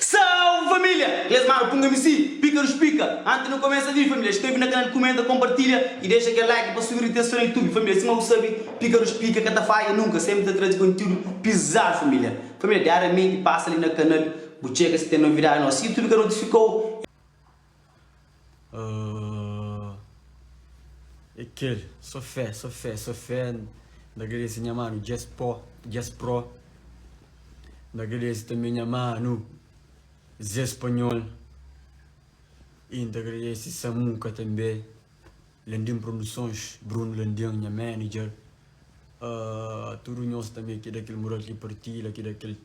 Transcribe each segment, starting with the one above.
Salve família! Inglês Mara punga mi si, pika nos pika! Antes nu começa vi família, inscreve na canal, comenta, compartilha e deixa kel like pa subir ritensão na youtube família, sima bu sabe, pika nos pika ka ta falha nunca, sempre ta trazi conteúdo pisado família! Família diariamente passa ali na canal, bu tcheka si tem novidade nosso youtube ka notificou. uh, é kel só fé só fé só fé na agradece nha mano Jess Pro Jess Pro na agradece também nha mano Zé Espanhol e na agradece Samuca também Landim Produções Bruno Landim nha manager uh, tudo nós também que daquele moral que partilha que daquele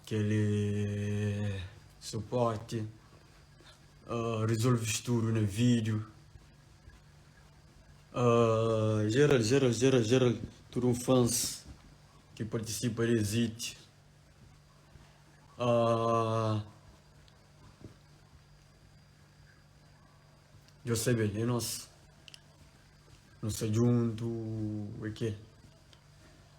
Kel suporte resolve studo na video geral geral geral geral tudo um fans que participa des hit djo sabe é nós nós tá junto é kel.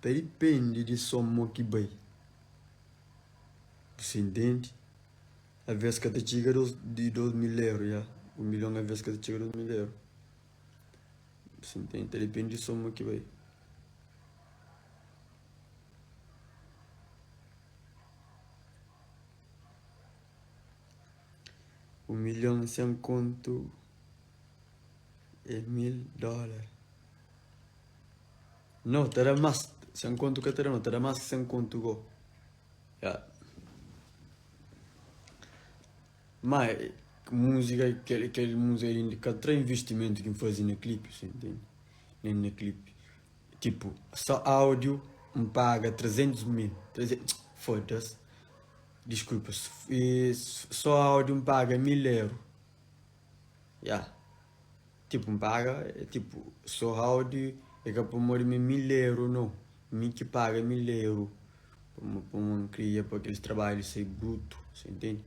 Ta dipende di so mo ki bai disendenti alvês ka ta txiga di dôs mil eur ya un milhon alvês ka ta txiga dôs mil eur disendenti ta dipende di so mo ki bai Un milhon sen kontu é mil dólar. Nau, ta da más. Sen kontu ka ta da nau, ta da más ki sen kontu gó. Ya. Má, múzika, kel, kel múzika inda ka tra investimentu ki N faze na klipi, sen tende? Nen na klipi. Tipu, só áudiu N paga trezentus mil, treze, foda-s. Diskulpa, so audi N paga mil eru? Ya, tipu N paga, tipu so audi e ka pamodi mi mil eru no, mi ki paga mil eru pamodi N kria pa kelis trabadju sai brutu, sa intendi?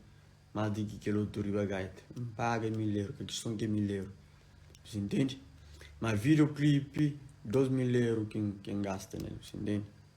Mas di ki kel otu riba gaita, N paga mil eru, kel kison ki é mil eru, bu sa intendi? Mas videoclip dos mil eru ki N gasta nel, bu sa intendi?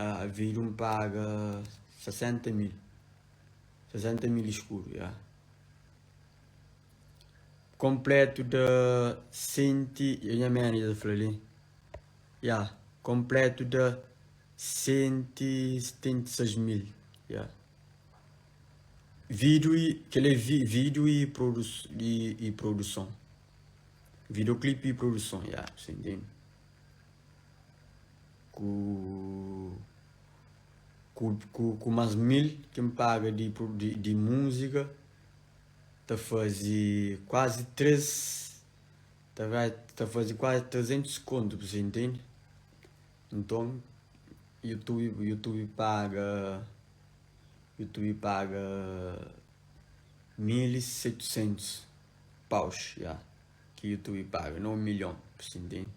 Ah, avi di un paga sesenta mil, sesenta mil iskuru, ya. Kompletu da senti, e nha manager ta fla li, ya, kompletu da senti setenta i seis mil, ya. Video i, kel li é vi, video i produ, i, i produson, videoclip i produson, ya, si ntende. Ku ku mas mil ki N paga di di múzika ta faze kuazi três ta bai ta faze kuazi trezentus kontu pa se intende nton youtube youtube paga youtube paga mil i setusentus paus ya. ki youtube paga na un milhon pa si ntende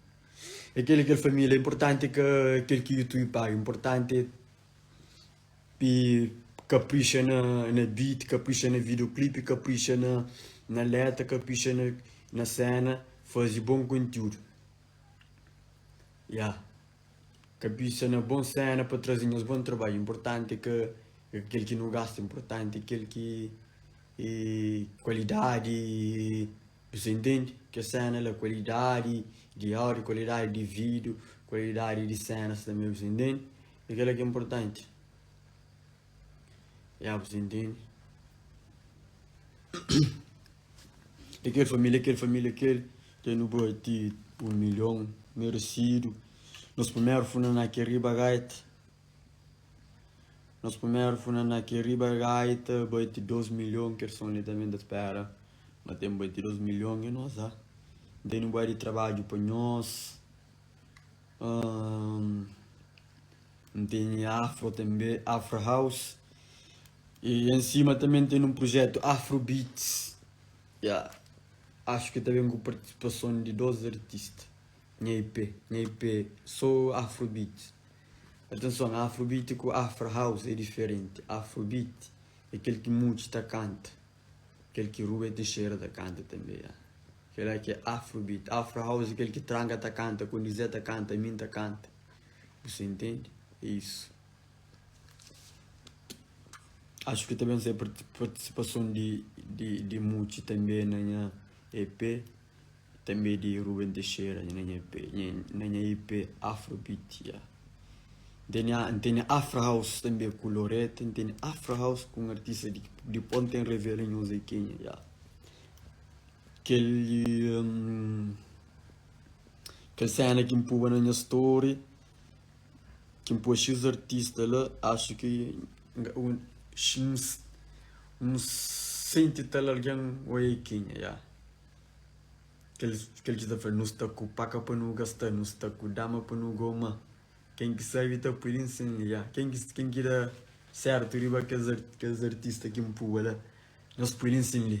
é kel kel família importante ka kel ki youtube paga importante pi kaprixa na na beat kaprixa na videoclip kaprixa na na letra kaprixa na na cena fazi bom conteúdo yeah Kabisa na bon sena pa traze nhos bon trabadju. Inportanti ka é kel ki nu gasta, inportanti é kel ki é kualidadi i buzê intende kes sena la, kualidadi di áudio, kualidadi di vídiu, kualidadi di senas tanbê, buzê intende? É kel-la ki é inportanti. Ya, bu sta intendi? Di kel família, kel família kel, ke nu bati un milhon meresidu. Nos primeru funa na ke riba gaita, nos primeru funa na ke riba gaita, bati dôs milhon, kel son li tanbe ta spera. Ma ten bati dôs milhon, e nos la. Nte nu ba di trabadju pa nhos. Ahn N teni Afro tanbê, Afro House E en sima tanbê N teni un prujetu Afro Beats Ya Axu ki ta ben ku partisipason di dos artista Nha EP, nha EP so Afro Beats Atenson, Afro Beats ku Afro House é diferenti Afro Beats é kel ki mudji ta kanta. Kel ki Rubê Teixeira ta kanta tanbê ya Kel la ki é Afrobeat Afro House kel ki Tranka ta kanta Konizé ta kanta Min ta kanta Bu sa intende É isu Axu ki ta ben sai partisipason di Mutxi tanbê na nha EP Tanbê di Ruben Teixeira nha nha ep na nha ep Afrobeat yeah. N tene a N tene Afro House tanbê ku Loretta N tene Afro House ku un artista di di Ponta em Revela nho Zé Kenha yeah. Kel hum, kel cena ki N pua na nha story ki N pua xis artista la acho ki N ga un xis N senti tal algen oi Kenha yeah. Kel ki ta fla, Nu sta ku paka pa nu gasta, nu sta ku dama pa nu goma. Ken ki sabe ta pui linha sen liga. Ken ki ken ki da sertu riba kes kes artista ki npua la, nos pui linha sen li.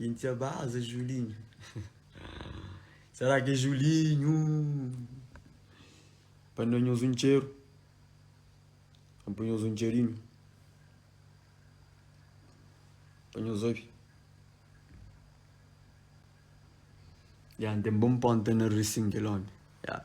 Inti a baza Julinho Será que é Julinho Pa na nhos um txeru Vem pa nhos um txerinho Pa nhos obi Ya, n'tem bom ponta na Rissing kel omi Ya.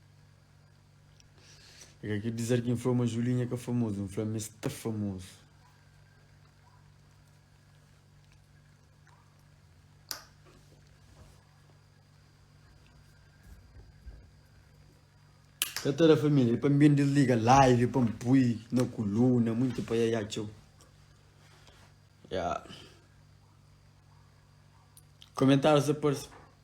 É ka kel dizar ki N fla-u ma Julinha ka famozu, N fla-u ma es ta famozu. Ka ta da família, é pa N ben disliga live pa N pui na kuluna, monti pa Yaya txeu. Ya. Komentáriu sa parse.